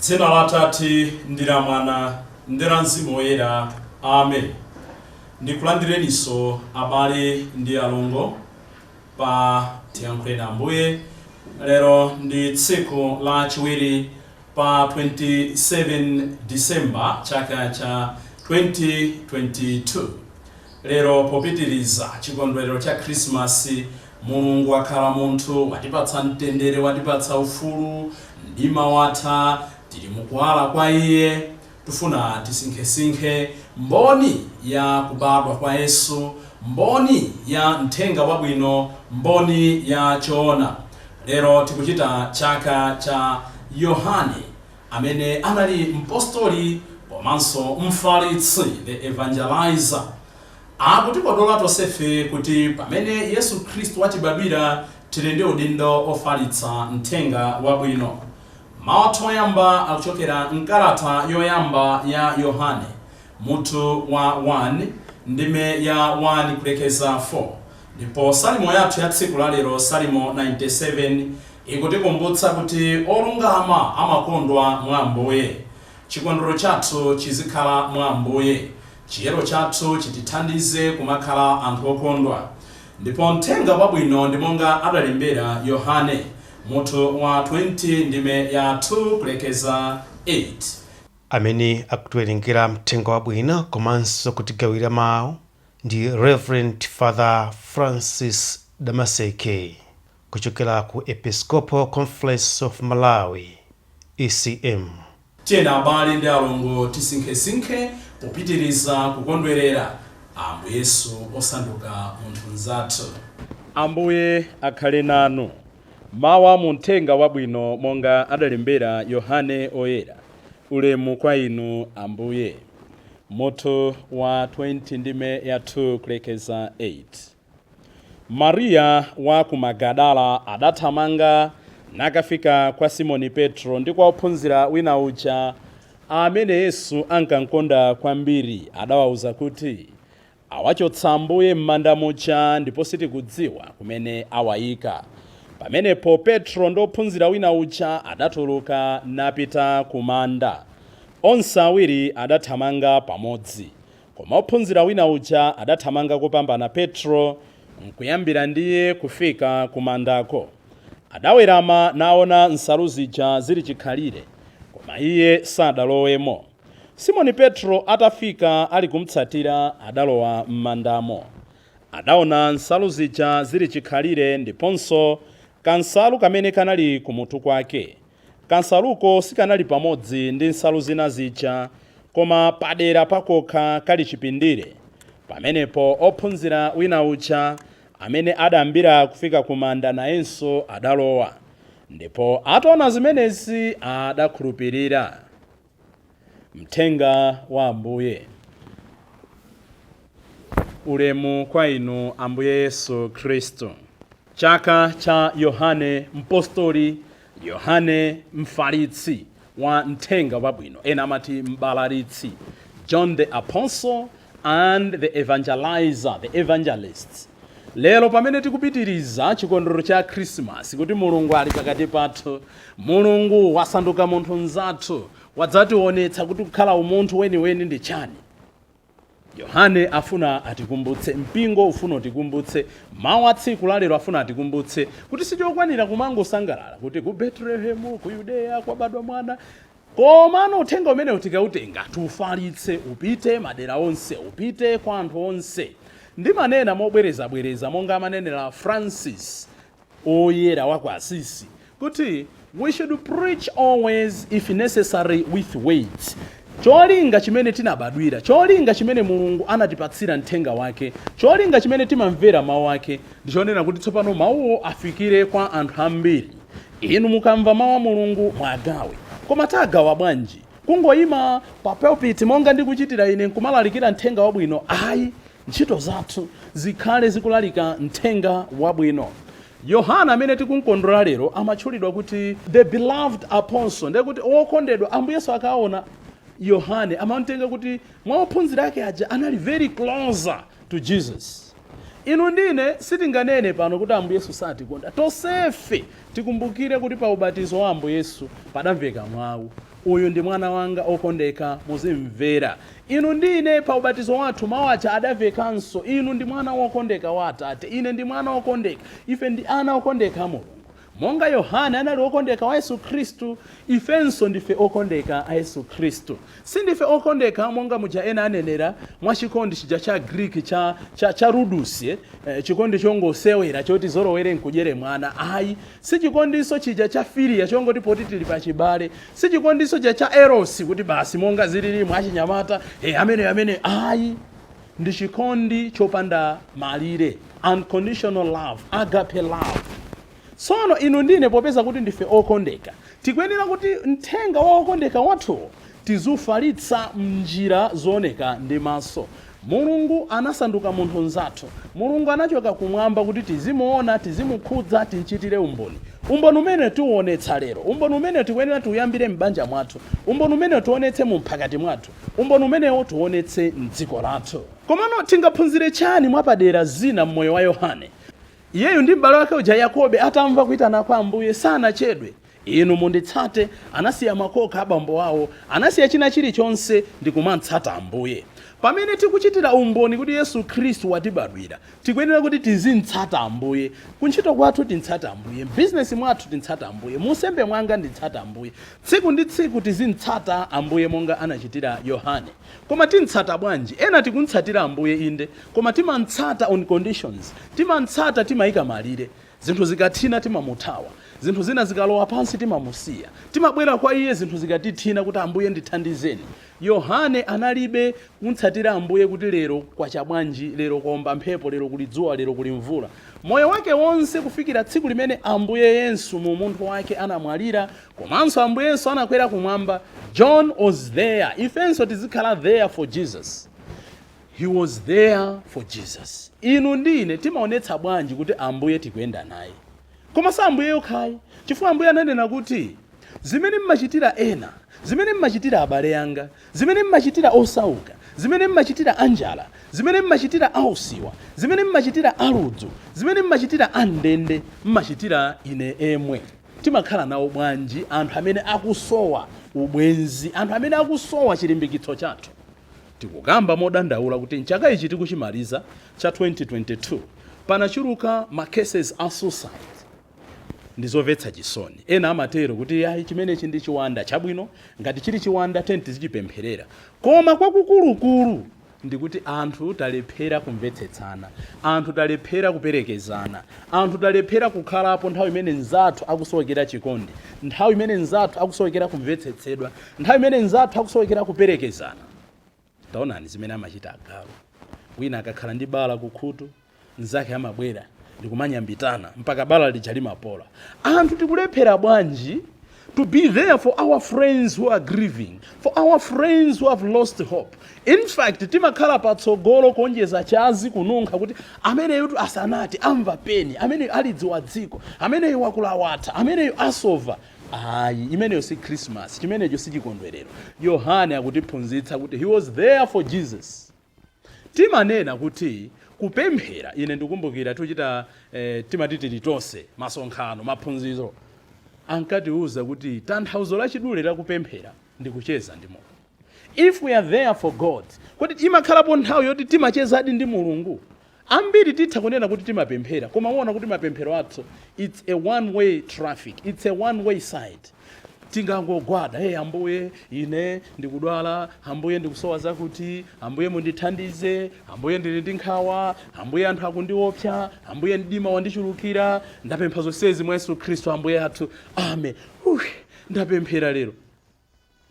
Dzina la Atate ndi la Mwana ndi la Mzimu Woyera. Amen. Ndikulandireniso abale ndi alongo pa tiyankhuleni Ambuye. Lero ndi tsiku la chiwiri pa 27 December chaka cha 2022. Lero, popitiriza chikondwerero cha Khrisimasi, Mulungu wakhala munthu, watipatsa mtendere, watipatsa ufulu, mdima watha, tiri mu Kuwala kwa Iye. Tufuna tisinkhesinkhe mboni ya kubadwa kwa Yesu, mboni ya Mthenga Wabwino, mboni ya choona. Lero tikuchita chaka cha Yohane. amene anali mpostoli komanso mfalitsi, the evangelizer, akutikodola tonsefe kuti pamene Yesu Khristu watibadwira tili ndi udindo ofalitsa Mthenga Wabwino. Mau athu oyamba akuchokera mkalata yoyamba ya Yohane, mutu wa 1, ndime ya 1 kulekeza 4, ndipo Salimo yathu ya tsiku la lero Salimo 97, Ikutikumbutsa kuti olungama amakondwa mwa Ambuye. Chikondwero chathu chizikhala mwa Ambuye. Chiyero chathu chitithandize kumakhala anthu okondwa. Ndipo Mthenga Wabwino ndi monga adalembera Yohane, mutu wa 20 ndime ya 2 kulekeza 8. Amene akutiwerengera Mthenga Wabwino komanso kutigawira mau ndi Reverend Father Francis Damaseke Kuchokera ku Episcopal Conference of Malawi, ECM. Tiyeni abale ndi alongo tisinkhesinkhe popitiriza kukondwerera Ambuye Yesu osanduka munthu mzathu. Ambuye akhale nanu. Mawu a mu Mthenga Wabwino monga adalembera Yohane Oyera. Ulemu kwa Inu Ambuye. Mutu wa 20 ndime ya 2 kulekeza 8. Mariya wa ku Magadala adathamanga nakafika kwa Simoni Petro ndi kwa wophunzira wina uja, amene Yesu ankamkonda kwambiri. Adawauza kuti, Awachotsa Ambuye m'manda muja, ndipo sitikudziwa kumene awaika. Pamenepo Petro ndi wophunzira wina uja adatuluka napita ku manda. Onse awiri adathamanga pamodzi. Koma ophunzira wina uja adathamanga kopambana Petro, nkuyambira ndiye kufika kumandako. Adawerama naona nsalu zija zili chikhalire, koma iye sadalowemo. Simoni Petro atafika ali kumtsatira, adalowa m'mandamo. Adaona nsalu zija zili chikhalire ndiponso kansalu kamene kanali kumutu kwake. Kansaluko sikanali pamodzi ndi nsalu zina zija koma padera pakokha kali chipindire. Pamenepo ophunzira wina uja amene adayambira kufika ku manda nayenso adalowa, ndipo ataona zimenezi adakhulupirira. Mthenga wa Ambuye. Ulemu kwa Inu Ambuye Yesu Khristu. Chaka cha Yohane Mpostoli, Yohane Mfalitsi wa Mthenga Wabwino, ena amati Mbalalitsi, John the Apostle, and the evangeliser, the evangelist lero pamene tikupitiriza chikondwerero cha khrisimasi kuti mulungu ali pakati pathu mulungu wasanduka munthu mzathu wadzatiwonetsa kuti kukhala umunthu weniweni ndi chani yohane afuna atikumbutse mpingo ufuna utikumbutse mawu a tsiku lalero afuna atikumbutse kuti sichokwanira kumangosangalala kuti ku betelehemu ku yudeya kwabadwa mwana Komano uthenga umenewu tikautenga, tiufalitse, upite madera onse, upite kwa anthu onse. Ndimanena mobwerezabwereza, monga amanenera Francis Woyera wa ku Assisi kuti, We should preach always, if necessary with words. Cholinga chimene tinabadwira, cholinga chimene Mulungu anatipatsira mthenga wake, cholinga chimene timamvera mawu ake, ndi chonena kuti tsopano mawuwo afikire kwa anthu ambiri. Inu mukamva mau a Mulungu muagawe. Koma tagawa bwanji? Kungoima pa pulpit monga ndikuchitira ine nkumalalikira mthenga wabwino? Ayi, ntchito zathu zikhale zikulalika mthenga wabwino. Yohane amene tikumkondwerera lero amatchulidwa kuti the beloved apostle, ndiye kuti wokondedwa. Ambuye Yesu akaona Yohane amamtenga kuti mwa ophunzira ake aja anali very closer to Jesus. Inu ndi ine sitinganene pano kuti Ambuye Yesu satikonda. Tonsefe tikumbukire kuti pa ubatizo wa Ambuye Yesu padamveka mau, Uyu ndi Mwana wanga okondeka, muzim'mvera. Inu ndi ine pa ubatizo wathu mau aja adamvekanso, Inu ndi Mwana wokondeka wa Atate. Ine ndi Mwana wokondeka. Ife ndi ana okondeka a Mulungu. Monga Yohane anali wokondeka wa Yesu Khristu, ifenso ndife okondeka a Yesu Khristu. Sindife okondeka monga muja ena anenera, mwa chikondi chija cha Agriki cha, cha, cha ludus, eh, chikondi chongosewera choti zolowere nkudyere mwana. Ayi, si chikondinso chija cha filia chongoti poti tili pachibale. Si chikondinso chija cha eros kuti basi monga zilili mwa achinyamata, eh, ameneyo, ameneyo. Ayi. ndi chikondi chopanda malire, unconditional love, agape love. Tsono inu ndi ine popeza kuti ndife okondeka, tikuyenera kuti mthenga wa okondeka wathuwo tiziufalitsa m'njira zooneka ndi maso. Mulungu anasanduka munthu mzathu. Mulungu anachoka kumwamba kuti tizimuona, tizimukhudza, timchitire umboni. Umboni umene tiuonetsa lero. Umboni umene tikuyenera tiuyambire m'banja mwathu. Umboni umene tionetse mu mphakati mwathu. umboni umenewo tionetse m'dziko lathu. Komano tingaphunzire chani mwapadera zina m'moyo wa Yohane? Iyeyu ndi m'bale wake uja Yakobe atamva kuitana kwa Ambuye sanachedwe, Inu munditsate, anasiya makoka a bambo awo, anasiya china chilichonse ndikumamtsata Ambuye. Pamene tikuchitira umboni kuti Yesu Khristu watibadwira, Tikuyenera kuti tizimtsata Ambuye. Kuntchito kwathu timtsate Ambuye. M'bizinesi mwathu timtsate Ambuye. Mu unsembe mwanga ndimtsate Ambuye. Tsiku ndi tsiku tizimtsata Ambuye monga anachitira Yohane. Koma timtsata bwanji? Ena tikumtsatira Ambuye inde, koma timamtsata on conditions. Timamtsata timaika malire. Zinthu zikathina timamuthawa. Zinthu zina zikalowa pansi timamusiya. Timabwera kwa iye zinthu zikatithina kuti Ambuye ndithandizeni. Yohane analibe kumtsatira Ambuye kuti lero kwacha bwanji, lero kwaomba mphepo, lero kuli dzuwa, lero kuli mvula. Moyo wake wonse kufikira tsiku limene Ambuye Yesu mu umunthu wake anamwalira komanso Ambuye Yesu anakwera kumwamba, John was there. Ifenso tizikhala there for Jesus. He was there for Jesus. Inu ndi ine timaonetsa bwanji kuti Ambuye tikuyenda naye? Koma si Ambuye yokha ayi, chifukwa Ambuye ananena kuti, Zimene m'machitira ena, zimene m'machitira abale anga, zimene m'machitira osauka, zimene m'machitira anjala, zimene m'machitira ausiwa, zimene m'machitira aludzu, zimene m'machitira a m'ndende, m'machitira ine emwe. Timakhala nawo bwanji anthu amene akusowa ubwenzi, anthu amene akusowa chilimbikitso chathu? Tikukamba modandaula kuti m'chaka ichi tikuchimaliza cha 2022, panachuluka ma cases a suicide. Ndizomvetsa chisoni. Ena amatero kuti ayi chimenechi ndi chiwanda. Chabwino, ngati chili chiwanda tiyeni tizichipempherera. Koma kwakukulukulu ndikuti anthu talephera kumvetsetsana. Anthu talephera kuperekezana. Anthu talephera kukhalapo nthawi imene mzathu akusowekera chikondi, nthawi imene mzathu akusowekera kumvetsetsedwa. Nthawi imene mnzathu akusowekera kuperekezana, taonani zimene amachita agalu. Wina akakhala ndi bala kukhutu, mnzake amabwera ndi kumanyambitana mpaka bala lija limapola. Anthu tikulephera bwanji to be there for our friends who are grieving, for our friends who have lost hope? In fact, timakhala patsogolo kuonjeza chazi, kununkha kuti ameneyotu asanati, amva pain, ameneyo alidziwa dziko, ameneyo wakula watha, ameneyo asova. Ayi, imeneyo si Khrisimasi. Chimenecho si chikondwerero. Yohane akutiphunzitsa kuti, He was there for Jesus. Timanena kuti kupemphera, ine ndikumbukira tiuchita, eh, timati tili tonse, masonkhano, maphunziro, ankatiuza kuti tanthauzo lachidule la kupemphera ndi kucheza ndi Mulungu. If we are there for God, kodi imakhalapo nthawi yoti timachezadi ndi Mulungu? Ambiri titha kunena kuti timapemphera, koma muona kuti mapemphero athu its a one way traffic, its a one way side. Tingangogwada, hey Ambuye ine ndikudwala, Ambuye ndikusowa zakuti, Ambuye mundithandize, Ambuye ndili ndi nkhawa, Ambuye anthu akundiopsa, Ambuye mdima wandichulukira, ndapempha zonsezi mwa Yesu Khristu Ambuye athu, Amen. Whew! Ndapemphera lero.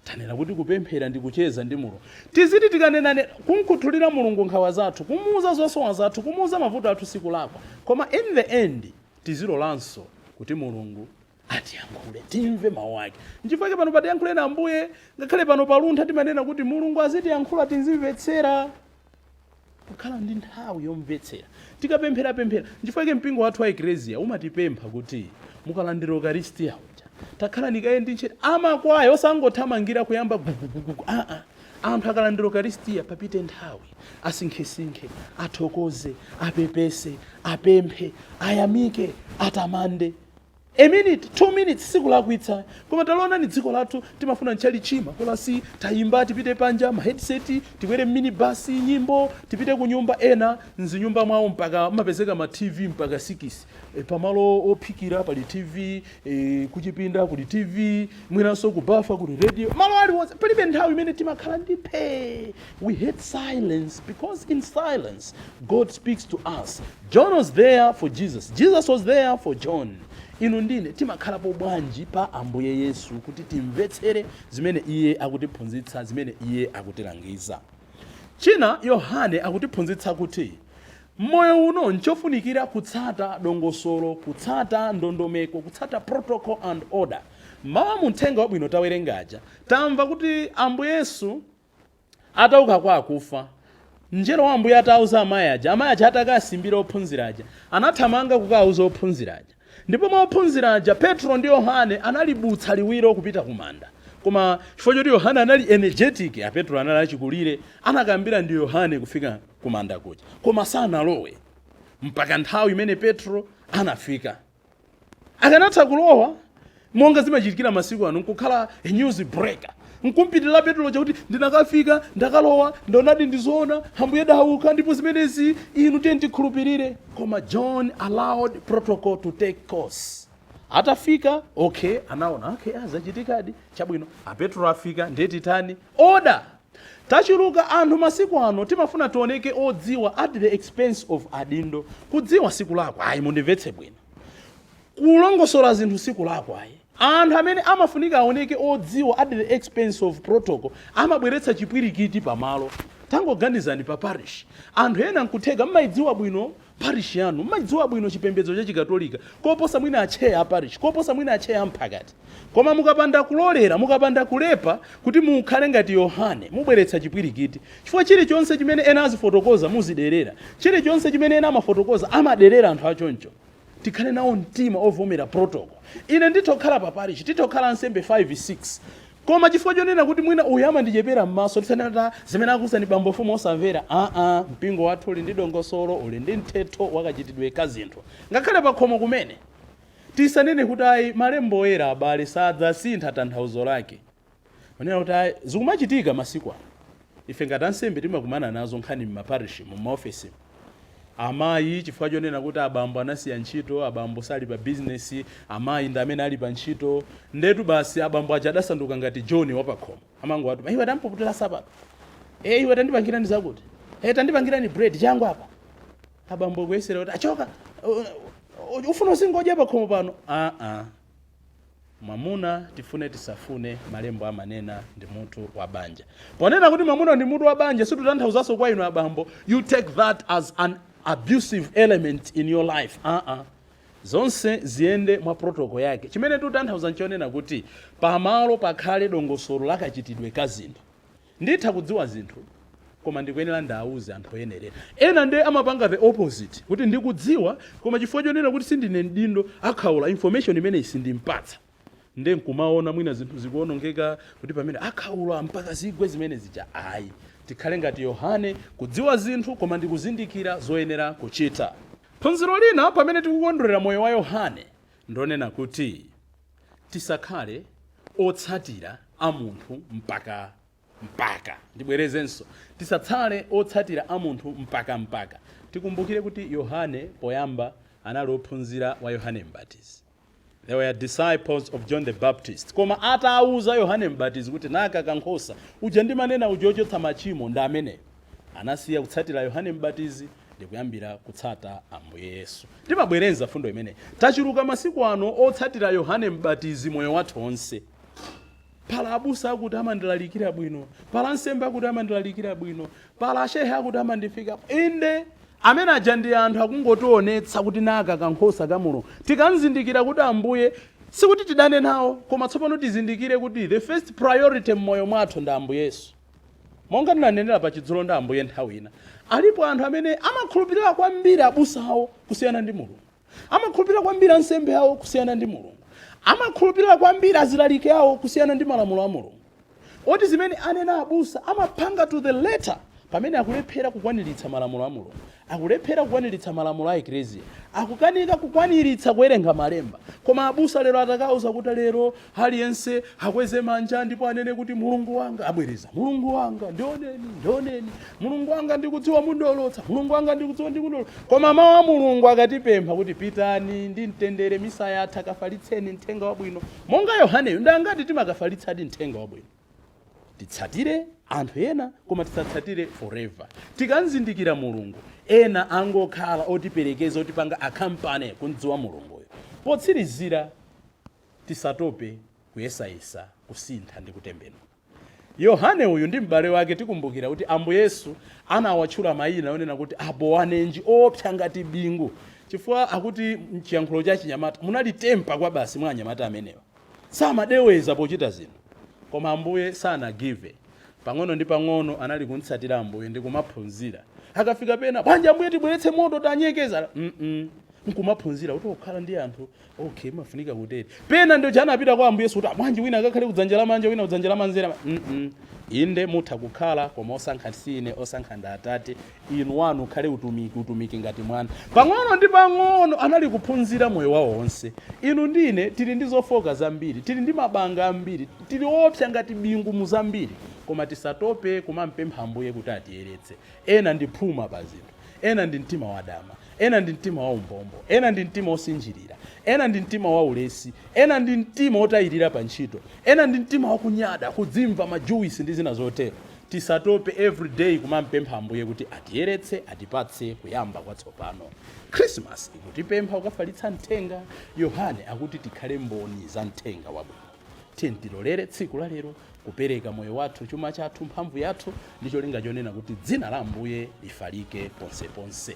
Tanena kuti kupemphera ndi kucheza ndi Mulungu. Tiziti tikanenanena, kumkhuthulira Mulungu nkhawa zathu, kumuuza zosowa zathu, kumuuza mavuto athu sikulakwa. Koma in the end tizilolanso kuti Mulungu atiyankhule, timve mawu ake. Nchifukwa chake pano pa Tiyankhuleni Ambuye, ngakhale pano pa Luntha timanena kuti Mulungu azitiyankhula tizimvetsera. kukhala ndi nthawi yomvetsera tikapempherapemphera nchifukwa chake mpingo wathu wa ekleziya umatipempha kuti mukalandira ukaristiya uja takhalani kaye ndi ntcheta amakwaya osangothamangira kuyamba gugugugugu aa anthu akalandira ukaristiya papite nthawi asinkhesinkhe athokoze apepese apemphe ayamike atamande A minute, two minutes sikulakwitsa koma talionani dziko lathu timafuna ntchalitchi makolasi, tayimba tipite panja, ma headset, tikwere m'minibus, nyimbo, tipite kunyumba, ena m'zinyumba mwawo mpaka mumapezeka ma TV mpaka sikisi pamalo ophikira pali TV, kuchipinda kuli TV, mwinanso kubafa kuli radio, malo aliwonse palibe nthawi imene timakhala ndi phe. We hate silence because in silence God speaks to us. John was there for Jesus. Jesus was there for John. Inu ndine timakhalapo bwanji pa Ambuye Yesu kuti timvetsere zimene iye akutiphunzitsa, zimene iye akutilangiza. China Yohane akutiphunzitsa kuti m'moyo uno nchofunikira kutsata dongosolo, kutsata ndondomeko, kutsata protocol and order. Mmawa mu mthenga wabwino tawerengaja tamva kuti Ambuye Yesu atauka kwa akufa, Mnjelo wa Ambuye atauza amai aja, amai aja atakasimbira ophunzira aja, anathamanga kukauza ophunzira aja. Ndipo mwa ophunzira aja, Petro ndi Yohane analibutsa liwiro kupita ku manda. Koma chifukwa choti Yohane anali energetic, a Petro anali achikulire, anayambira ndi Yohane kufika ku manda kuja. Koma sanalowe mpaka nthawi imene Petro anafika. akanatha kulowa monga zimachitikira masiku ano nkukhala a news breaker nkumpitirira petulo chakuti ndinakafika ndakalowa ndaonadi ndizoona ambuye adauka ndipo zimenezi inu tiye tikhulupirire koma john allowed protocol to take course atafika okay anaona okay zachitikadi chabwino apetulo afika ndiye titani order Tachuluka anthu masiku ano timafuna tioneke odziwa at the expense of adindo. Kudziwa sikulakwa ayi, mundimvetse bwino. Kulongosola zinthu sikulakwa ayi. Anthu amene amafunika aoneke odziwa at the expense of protocol amabweretsa chipwirikiti pamalo. Tangoganizani pa parish, anthu ena nkutheka mmaidziwa bwino parish yanu mmaidziwa bwino chipembedzo cha chikatolika koposa mwina a chair a parish, koposa mwina a chair a mphakati. Koma mukapanda kulolera, mukapanda kuleza kuti mukhale ngati Yohane, mubweretsa chipwirikiti. Chifukwa chirichonse chimene ena azifotokoza muziderera. Chirichonse chimene ena amafotokoza amaderera anthu achoncho. Tikhale nawo mtima ovomera protocol. Ine nditha kukhala pa parish, titha kukhala ansembe 5, 6. Koma chifukwa chonena kuti mwina uyu amandichepera mmaso tisanene kuti aah zimene akuuzani bambo mfumu osamvera aah mpingo wathu uli ndi dongosolo uli ndi mtsetso wakachitidwe ka zinthu ngakhale pakhomo kumene tisanene kuti ayi malembo oyera abale sadzasintha tanthauzo lake kunena kuti ayi zikumachitika masiku ano ife ngati ansembe timakumana nazo nkhani mmaparishmu mmaofesimu Amayi, chifukwa chonena kuti abambo anasiya ntchito, abambo sali pa business, amayi ndi amene ali pa ntchito. Ndetu basi abambo aja adasanduka ngati Joni wapakhomo. Amangowatuma, iwe tandipukutira nsapato. E, iwe tandipangirani zakuti. E, tandipangirani bread, changu apa. Abambo kuyesera kuti, achoka, ufuna uzingodya pakhomo pano? Aa. Mwamuna, tifune tisafune, malembo amanena, ndi mutu wa banja. Ponena kuti mwamuna ndi mutu wa banja situtanthauzanso kwa inu abambo you take that as an abusive element in your life aa. Zonse ziyende mwa protocol yake. Chimene titanthauza nchonena kuti pamalo pakhale dongosolo la kachitidwe ka zinthu. Nditha kudziwa zinthu koma ndikuyenera ndiwauze anthu oyenerera. Ena nde amapanga the opposite kuti ndikudziwa koma chifukwa chonena kuti sindine mdindo akhaula information imeneyi sindimpatsa nde nkumaona mwina zinthu zikuonongeka kuti pamene akhaula mpaka zigwe zimene zija ayi. Tikhale ngati Yohane kudziwa zinthu koma ndikuzindikira zoyenera kuchita. Phunziro lina pamene tikukondwerera moyo wa Yohane ndilonena kuti. Tisakhale otsatira a munthu mpaka mpaka. Ndibwerezenso, tisatsale otsatira a munthu mpaka mpaka. Tikumbukire kuti Yohane poyamba anali ophunzira wa Yohane Mbatizi. They were disciples of John the Baptist. Koma atawauza Yohane Mbatizi kuti naka kankhosa uja ndimanena uja ochotsa machimo ndi ameneyo. Anasiya kutsatira Yohane Mbatizi ndikuyambira kutsata Ambuye Yesu. Timabwereza mfundo imeneyi. Tachuluka masiku ano otsatira Yohane Mbatizi moyo wathu onse. Pala abusa akuti amandilalikira bwino. Pala ansembe akuti amandilalikira bwino. Pala ashehe akuti amandifika. Inde, amene aja ndi anthu akungotionetsa kuti naka kankhosa ka Mulungu. Tikamzindikira kuti Ambuye, sikuti tidane nawo, koma tsopano tizindikire kuti the first priority mmoyo mwathu ndi Ambuye Yesu. Monga ndinanenera pa Chidzulo ndi Ambuye nthawi ina, alipo anthu amene amakhulupirira kwambiri abusa awo kusiyana ndi Mulungu, amakhulupirira kwambiri ansembe awo kusiyana ndi Mulungu, amakhulupirira kwambiri azilalike awo kusiyana ndi malamulo a Mulungu, oti zimene anena abusa amapanga to the letter pamene akulephera kukwaniritsa malamulo a Mulungu. Akulephera kukwaniritsa malamulo a Eklezia. Akukanika kukwaniritsa kuwerenga malemba. Koma abusa lero atakauza kuti lero aliyense akweze manja ndipo anene kuti Mulungu wanga, abwereza, Mulungu wanga, ndioneni, ndioneni. Mulungu wanga ndikudziwa mundolotsa, Mulungu wanga ndikudziwa mundolo. Koma mau a Mulungu akatipempha kuti pitani ndi mtendere misa yatha kafalitseni mthenga wabwino. Monga Yohaneyo ndi angati timakafalitsadi mthenga wabwino? titsatire anthu ena koma tisatsatire forever tikamzindikira mulungu ena angokhala otiperekeza otipanga akampani kumdziwa mulunguyo potsirizira tisatope kuyesayesa kusintha ndi kutembenuka yohane uyu ndi m'bale wake tikumbukira kuti ambuye yesu anawatchula mayina onena kuti abowanerege oopsa ngati bingu chifukwa akuti mchiyankhulo cha chinyamata munali tempa kwa basi mwa anyamata amenewa Samadeweza pochita zinthu. Koma Ambuye sanagive. Pang'ono ndi pang'ono anali kumtsatira Ambuye ndi kumaphunzira. Akafika pena, bwanji Ambuye tibweretse moto tanyeketsa. Mm-mm. Nkumaphunzira kuti okhala ndi anthu, okay, mafunika kutere. Pena ndi aja anapita kwa Ambuye Yesu kuti, "bwanji wina akakhale kudzanja lamanja, wina kudzanja lamanzere. Mm-mm. Inde mutha kukhala koma osankha si ine, osankha ndi Atate. inu. Wanu ukhale utumiki, utumiki ngati mwana. Pang'ono ndi pang'ono, anali kuphunzira moyo wawo wonse. Inu ndi ine tili ndi zofooka zambiri, tili ndi mabanga ambiri, tili oopsya ngati bingu mu zambiri, koma tisatope kumampempha Ambuye kuti atiyeretse. Ena ndi phuma pa zinthu. Ena ndi mtima wadama. Ena ndi mtima waumbombo. Ena ndi mtima wosinjirira. Ena ndi mtima waulesi. Ena ndi mtima wotayirira pa ntchito. Ena ndi mtima wakunyada, kudzimva, majuwisi, ndi zina zotero. Tisatope every day kumampempha Ambuye kuti atiyeretse atipatse kuyamba kwatsopano. Christmas ikutipempha kukafalitsa mthenga, Yohane akuti tikhale mboni za mthenga wabwino. Tiyeni tilolere tsiku la lero kupereka moyo wathu, chuma chathu, mphamvu yathu ndi cholinga chonena kuti dzina la Ambuye lifalike ponseponse.